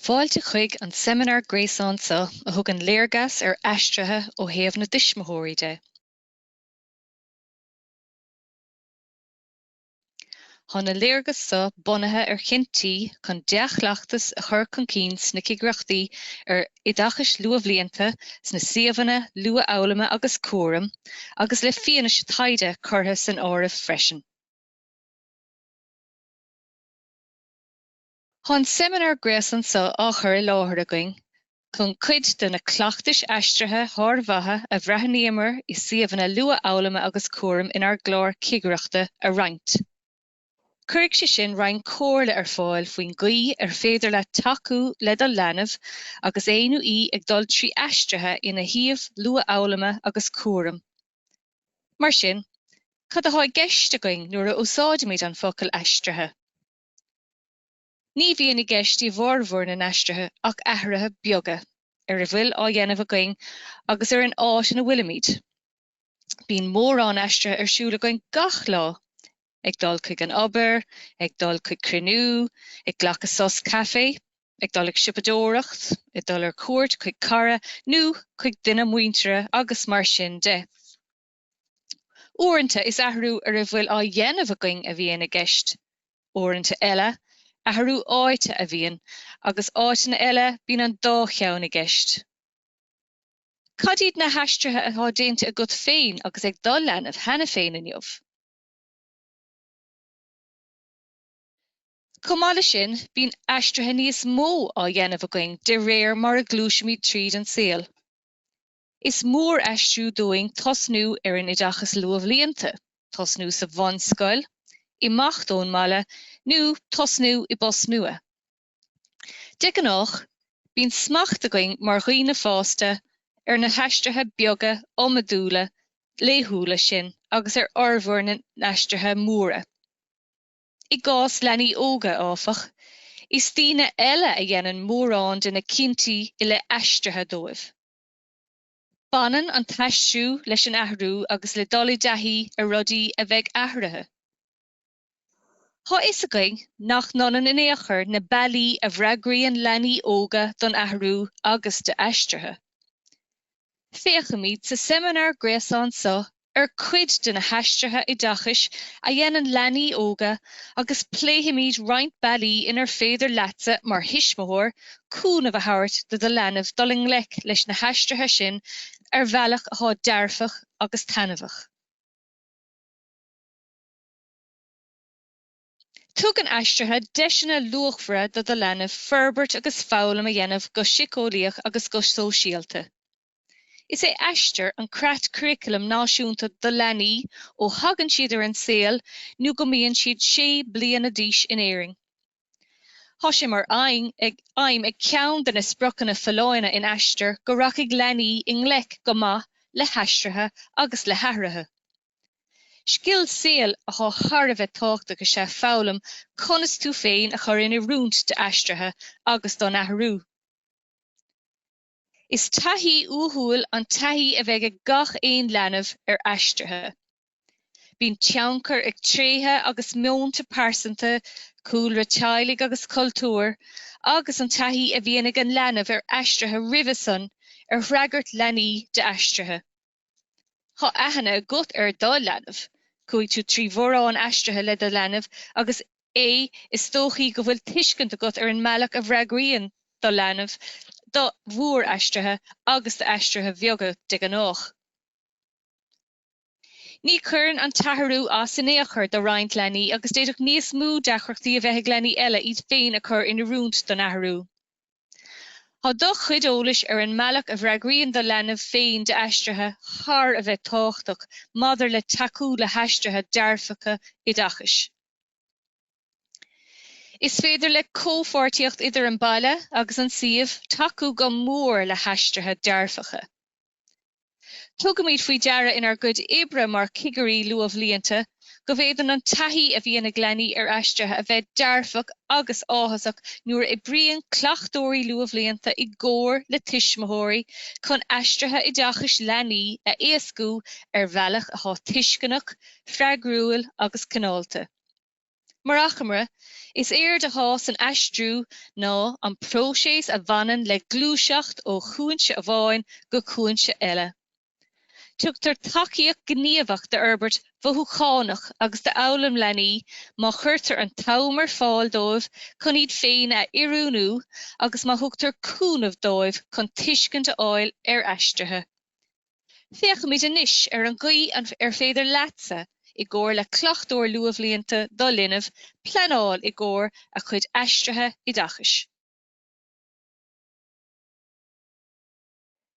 Fáilte chuig an seimineár gréasáin seo a thugann léargas ar aistrithe ó thaobh na dtuismitheoirí de. Tá na léargais seo bunaithe ar chinntí chun dea-chleachtas a chur chun cinn sna cigireachtaí ar oideachas luathbhlianta, sna suíomhanna luathfhoghlama agus cúraim, agus le fianaise taighde curtha san áireamh freisin. Tá an seimineár gréasáin seo á chur i láthair againn chun cuid de na cleachtais aistrithe shármhaithe a bhreathnaíomar i suíomhanna luathfhoghlama agus cúraim inár gclár cigireachta a roinnt. Cuirfidh sé sin roinnt comhairle ar fáil faoin gcaoi ar féidir leat tacú le do leanbh agus é nó í ag dul trí aistrithe ina shuíomh luathfhoghlama agus cúraim. Mar sin, cad atá i gceist againn nuair a úsáidimid an focal 'aistrithe'? Ní bhíonn i gceist i bhformhór na n-aistrithe ach athruithe beaga ar a bhfuil á dhéanamh againn agus ar an áit ina bhfuilimid. Bíonn mórán aistrithe ar siúl againn gach lá, ag dul chuig an obair, ag dul chuig cruinniú, ag glacadh sos caife, ag dul ag siopadóireacht, ag dul ar cuairt chuig cara nó chuig duine muinteartha agus mar sin de. Uaireanta is athrú ar a bhfuil á dhéanamh againn a bhíonn i gceist, uaireanta eile, athrú áite a bhíonn agus áiteanna eile bíonn an dá cheann i gceist. Cad iad na haistrithe atá déanta agat féin agus ag do leanbh cheana féin inniu? Chomh maith leis sin, bíonn aistrithe níos mó á dhéanamh againn de réir mar a ghluaisimid tríd an saol. Is mór aistriú dúinn tosnú ar an oideachas luathbhlianta, tosnú sa bhunscoil, imeacht ón mbaile nó tosnú i bpost nua. De ghnáth, bíonn smacht againn mar dhaoine fásta ar na haistrithe beaga iomadúla laethúla sin agus ar fhormhór na n-aistrithe móra. I gcás leanaí óga, áfach, is daoine eile a dhéanann mórán de na cinntí i leith aistrithe dóibh. Baineann an t-aistriú leis an athrú agus le dul i dtaithí ar rudaí a bheidh athraithe. Tá a fhios againn nach n-ionann in aon chor na bealaí a bhfreagraíonn leanaí óga don athrú agus d'aistrithe. Féachaimid sa seimineár gréasáin seo ar cuid de na haistrithe oideachais a dhéanann leanaí óga agus pléifimid roinnt bealaí inar féidir leatsa mar thuismitheoir cúnamh a thabhairt do do leanbh dul i ngleic leis na haistrithe sin ar bhealach atá dearfach agus taitneamhach. Tugann aistrithe deiseanna luachmhara do do leanbh forbairt agus foghlaim a dhéanamh go síceolaíoch agus go sóisialta. Is é Aistear an creat curaclaim náisiúnta do leanaí ó thagann siad ar an saol nó go mbíonn siad sé bliana d'aois in Éirinn. Tá sé mar aidhm ag ceann de na spriocanna folláine in Aistear go rachaidh leanaí i ngleic go maith le haistrithe agus le hathruithe. Scil saoil atá thar a bheith tábhachtach is é foghlaim conas tú féin a chur in oiriúint d'aistrithe agus don athrú. Is taithí uathúil an taithí a bheidh ag gach aon leanbh ar aistrithe. Bíonn tionchar ag tréithe agus meonta pearsanta, cúlra teaghlaigh agus cultúir, agus an taithí a bhíonn ag an leanbh ar aistrithe roimhe sin ar fhreagairt leanaí d'aistrithe. Tá aithne agat ar do leanbh. Chuaigh tú trí mhórán aistrithe le do leanbh agus is dóichí go bhfuil tuiscint agat ar an mbealach a bhfreagraíonn do leanbh do mhóraistrithe agus d'aistrithe beaga de ghnách. Ní chuireann an t-athrú as in aon chor do roinnt leanaí agus d'fhéadfadh níos mó deacrachtaí a bheith ag leanaí eile iad féin a chur in oiriúint don athrú. Tá do chuid eolais ar an mbealach a bhfreagraíonn do leanbh féin d'aistrithe thar a bheith tábhachtach maidir le tacú le haistrithe dearfacha oideachais. Is féidir le comhpháirtíocht idir an baile agus an suíomh tacú go mór le haistrithe dearfacha. Tugaimid faoi deara inár gcuid oibre mar Chigirí Luathbhlianta go bhféadann an taithí a bhíonn ag leanaí ar aistrithe a bheith dearfach agus áthasach nuair a oibríonn cleachtóirí luathbhlianta i gcomhar le tuismitheoirí chun aistrithe oideachais leanaí a éascú ar bhealach atá tuisceanach, freagrúil agus cineálta. Mar achoimre, is éard atá san aistriú ná an próiseas a bhaineann le gluaiseacht ó chúinse amháin go cúinse eile. Tugtar tacaíocht ghníomhach d'fhorbairt mhothúchánach agus d'fhoghlaim leanaí má chuirtear an t-am ar fáil dóibh chun iad féin a oiriúnú agus má thugtar cúnamh dóibh chun tuiscint a fháil ar aistrithe. Féachfaimid anois ar an gcaoi ar féidir leatsa, i gcomhar le cleachtóir luathbhlianta do linbh, pleanáil i gcomhair a chuid aistrithe oideachais.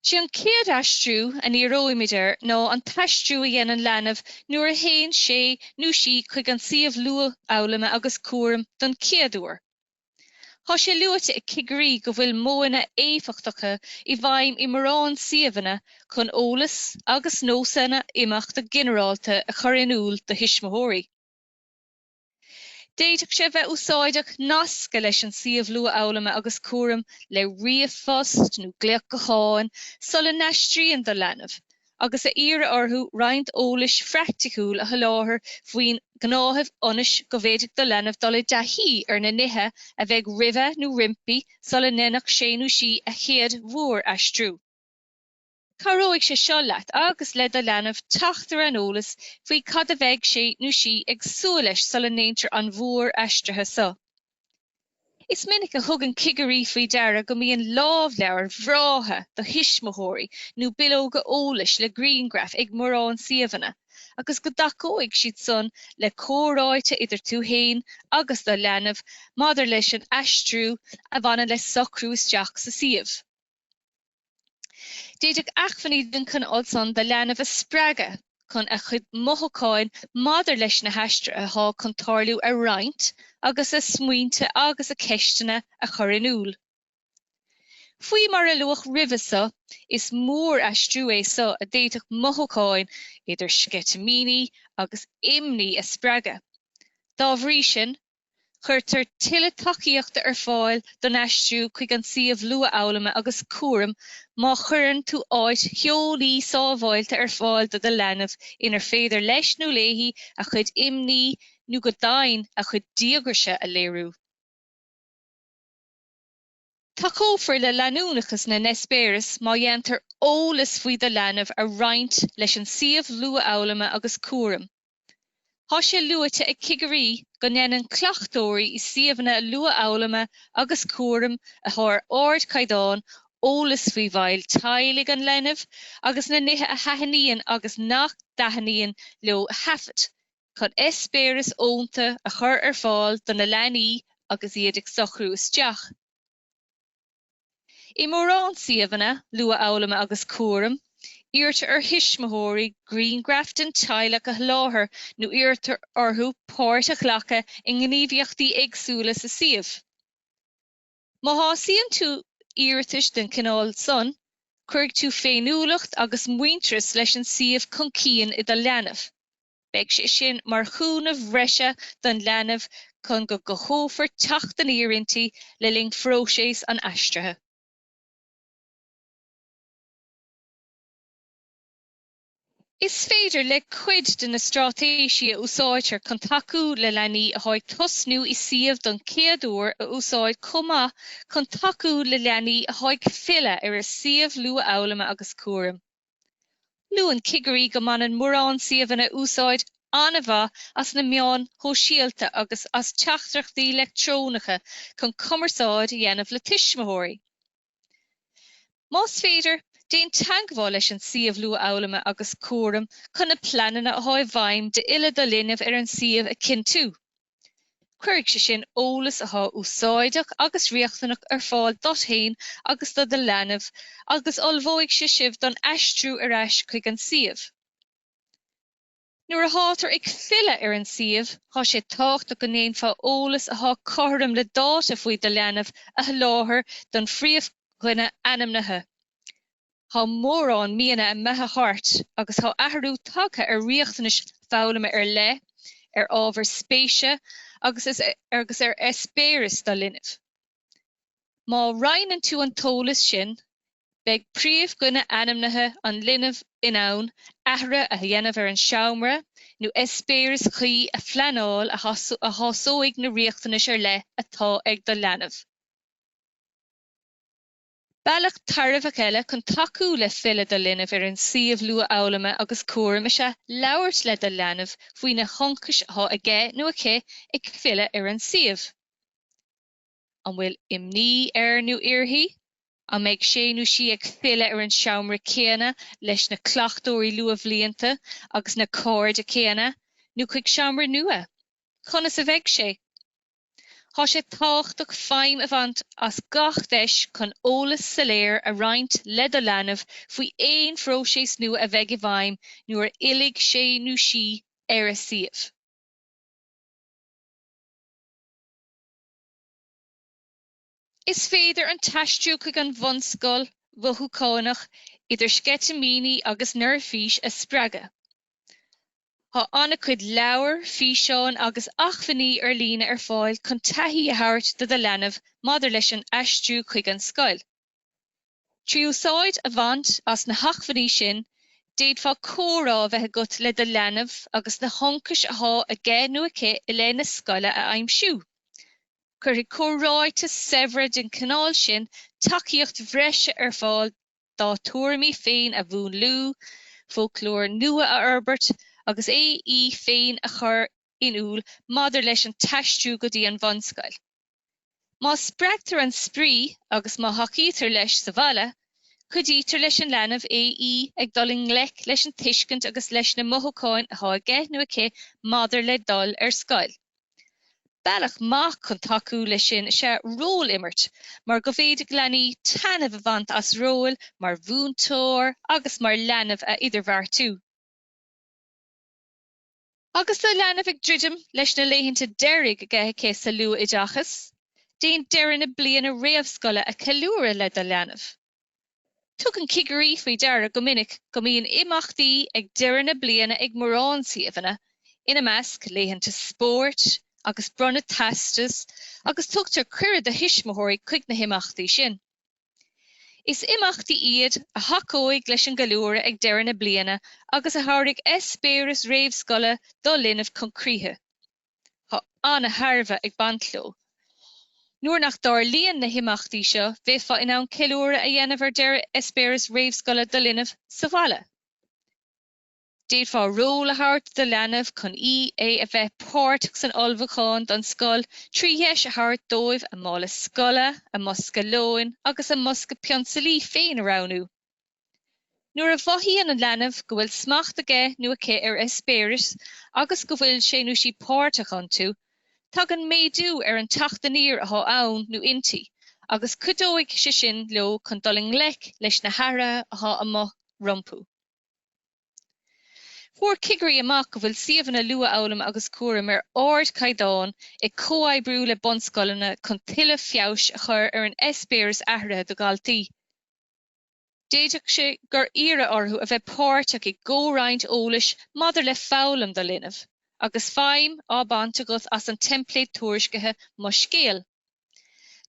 Is é an chéad aistriú a ndíreoimid air ná an t-aistriú a dhéanann leanbh nuair a théann sé nó sí chuig an suíomh luathfhoghlama agus cúraim don chéad uair. Tá sé luaite ag cigirí go bhfuil modhanna éifeachtacha i bhfeidhm i mórán suíomhanna chun eolas agus nósanna imeachta ginearálta a chur in iúl do thuismitheoirí. D'fhéadfadh sé a bheith úsáideach nascadh leis an suíomh luathfhoghlama agus cúraim le ríomhphost nó glaoch gutháin sula n-aistríonn do leanbh agus a iarraidh orthu roinnt eolais phraiticiúil a sholáthar faoin ngnáthamh ionas go bhféadfadh do leanbh dul i dtaithí ar na nithe a bheidh roimhe nó roimpi sula ndéanfadh sé nó sí an chéad mhór-aistriú. Cabhróidh sé seo leat agus le do leanbh teacht ar an eolas faoi cad a bheidh sé nó sí ag súil leis sula ndéantar an mhór-aistrithe so. Is minic a thugann cigirí faoi deara go mbíonn lámhleabhair bhreátha do thuismitheoirí nó bileoga eolais le grianghraif ag mórán suíomhanna agus go dtacóidh siad san le comhráite idir tú féin agus do leanbh maidir leis an aistriú a bhaineann le socrú isteach sa suíomh. D'fhéadfadh acmhainní den chineál san do leanbh a spreagadh chun a chuid mothúcháin maidir leis na haistrithe atá chun tarlú a roinnt agus a smaointe agus a cheisteanna a chur in iúl. Faoi mar a luadh roimhe so, is mór-aistriú é so a d'fhéadfadh mothúcháin idir sceitimíní agus imní a spreagadh. Dá bhrí sin, Cuirtear tuilleadh tacaíochta ar fáil don aistriú chuig an suíomh luathfhoghlama agus cúraim má chuireann tú áit theolaí sábháilte ar fáil do do leanbh inar féidir leis nó léi a chuid imní nó, go deimhin, a chuid díograise a léiriú. Tacófar le leanúnachas na n-eispéiris má dhéantar eolas faoi do leanbh a roinnt leis an suíomh luathfhoghlama agus cúraim. Tá sé luaite ag cigirí go ndéanann cleachtóirí i suíomhanna luathfhoghlama agus cúraim atá ar ardchaighdeán eolas faoi bhaill teaghlaigh an linbh agus na nithe a thaitníonn agus nach dtaitníonn leo a thaifead. chun eispéiris fhónta a chur ar fáil do na leanaí agus iad ag socrú isteach. I mórán suíomhanna luathfhoghlama agus cúraim, iarrtar ar thuismitheoirí grianghraif den teaghlach a sholáthar nó iarrtar orthu páirt a ghlacadh i ngníomhaíochtaí éagsúla sa suíomh. Má shásaíonn tú iarratais den chineál san, cuirfidh tú féiniúlacht agus muintearas leis an suíomh chun cinn i do leanbh. Beidh sé sin mar chúnamh bhreise don leanbh chun go gcothófar teacht aniar inti le linn phróiseas an aistrithe. Is féidir le cuid de na straitéisí a úsáidtear chun tacú le leanaí atá ag tosnú i suíomh don chéad uair a úsáid chomh maith chun tacú le leanaí atá ag filleadh ar a suíomh luathfhoghlama agus cúraim. Luann cigirí go mbaineann mórán suíomhanna úsáid an-mhaith as na meáin shóisialta agus as teachtaireachtaí leictreonacha chun cumarsáid a dhéanamh le tuismitheoirí. Más féidir, déan teagmháil leis an suíomh Luathfhoghlama agus Cúraim chun na pleananna atá i bhfeidhm d'fhilleadh do linbh ar an suíomh a chinntiú. Cuirfidh sé sin eolas atá úsáideach agus riachtanach ar fáil dot féin agus do do leanbh agus ullmhóidh sé sibh don aistriú ar ais chuig an suíomh. Nuair a thátar ag filleadh ar an suíomh, tá sé tábhachtach go ndéanfá eolas atá cothrom le dáta faoi do leanbh a sholáthar don phríomhdhuine ainmnithe. Tá mórán míonna imithe thart agus tá athrú tagtha ar riachtanais foghlama ar leith, ar ábhair spéise agus ar eispéiris do linbh. Má roinneann tú an t-eolas sin, beidh príomhdhuine ainmnithe an linbh in ann athrú a dhéanamh ar an seomra nó eispéireas cuí a phleanáil a shásóidh na riachtanais ar leith atá ag do leanbh. Bealach tairbheach eile chun tacú le filleadh do linbh ar an suíomh luathfhoghlama agus cúraim is ea labhairt le do leanbh faoi na hionchais atá aige nó aici ag filleadh ar an suíomh. An bhfuil imní air nó uirthi? An mbeidh sé nó sí ag filleadh ar an seomra céanna leis na cleachtóirí luathbhlianta agus na cairde céanna, nó chuig seomra nua? Conas a bheidh sé? Tá sé tábhachtach feidhm a bhaint as gach deis chun eolas soiléir a roinnt le do leanbh faoi aon phróiseas nua a bheidh i bhfeidhm nuair a fhillfidh sé nó sí ar an suíomh. Is féidir an t-aistriú chuig an bhunscoil mothúcháin idir sceitimíní agus neirbhís a spreagadh. Tá an-chuid leabhair, físeáin agus acmhainní ar líne ar fáil chun taithí a thabhairt do do leanbh maidir leis an aistriú chuig an scoil. Trí úsáid a bhaint as na hacmhainní sin, d'fhéadfá comhrá a bheith agat le do leanbh agus na hionchais athá aige nó aici i leith na scoile a aimsiú. Cuirfidh comhráite saibhre den chineál sin tacaíocht bhreise ar fáil dá tuairimí féin a mhúnlú, foclóir nua a fhorbairt agus é í féin a chur in iúl maidir leis an t-aistriú go dtí an bhunscoil. Má spreagtar an spraoi agus má thacaítear leis sa bhaile, cuidítear leis an leanbh é í ag dul i ngleic leis an tuiscint agus leis na mothúcháin atá aige nó aici maidir le dul ar scoil. Bealach maith chun tacú leis sin is ea ról-imirt mar go bhféadfadh leanaí taitneamh a bhaint as róil mar mhúinteoir agus mar leanbh a idirbheartú. Agus do leanbh ag druidim leis na laethanta deiridh aige, aici sa luathoideachas, déan deireadh na bliana réamhscoile a cheiliúradh le do leanbh. Tugann cigirí faoi deara go minic go mbíonn imeachtaí ag deireadh na bliana ag mórán suíomhanna, ina measc, laethanta spóirt agus bronnadh teastas agus tugtar cuireadh do thuismitheoirí chuig na himeachtaí sin. Is imeachtaí iad a thacóidh leis an gceiliúradh ag deireadh na bliana agus a thabharfaidh eispéireas réamhscoile do linbh chun críche. Tá an-thairbhe ag baint leo. Nuair nach dtarlaíonn na himeachtaí seo, bheifeá in ann ceiliúradh a dhéanamh ar deireadh eispéireas réamhscoile do linbh sa bhaile. D'fhéadfá ról a thabhairt do do leanbh chun í, é a bheith páirteach san ullmhúchán don scoil trí dheis a thabhairt dóibh a mála scoile, a mbosca lóin agus a mbosca pionsailí féin a roghnú. Nuair a mhothaíonn an leanbh go bhfuil smacht aige nó aici ar eispéiris agus go bhfuil sé nó sí páirteach iontu, tagann méadú ar an teacht aniar athá ann nó inti agus cuideoidh sé sin leo chun dul i ngleic leis na hathruithe athá amuigh rompu. Fuair cigirí amach go bhfuil suíomhanna luathfhoghlama agus cúraim ar ardchaighdeán ag comhoibriú le bunscoileanna chun tuilleadh feabhais a chur ar an eispéireas aistrithe do dhaltaí. D'fhéadfadh sé gur iarradh ort a bheith páirteach i gcomhroinnt eolais maidir le foghlaim do linbh, agus feidhm á baint agat as an teimpléad tuairiscithe Mo Scéal.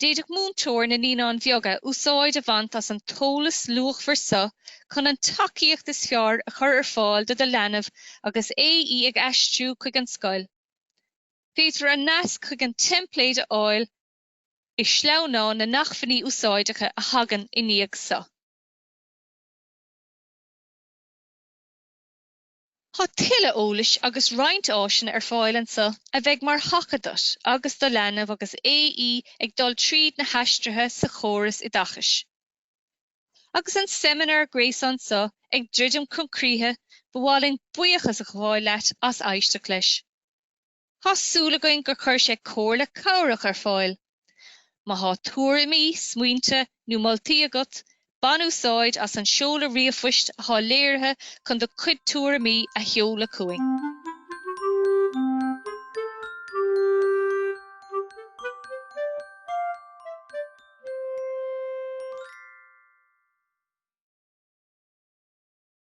D'fhéadfadh múinteoir na Naíonáin Bheaga úsáid a bhaint as an t-eolas luachmhar seo chun an tacaíocht is fearr a chur ar fáil do do leanbh agus é í ag aistriú chuig an scoil. Féadfar an nasc chuig an teimpléad a fháil i sleamhnán na nAcmhainní Úsáideacha a thagann i ndiaidh seo. Tá tuilleadh eolais agus roinnt áiseanna ar fáil anseo a bheidh mar thaca duit agus do leanbh agus é ag dul tríd na haistrithe sa chóras oideachais. Agus an seimineár gréasáin seo ag druidim chun críche, ba mhaith linn buíochas a ghabháil leat as éisteacht leis. Thá súil againn gur chuir sé comhairle cabhrach ar fáil. Má thá tuairimí, smaointe nó moltaí agat, bain úsáid as an seoladh ríomhphoist athá léirithe chun do chuid tuairimí a sheoladh chugainn.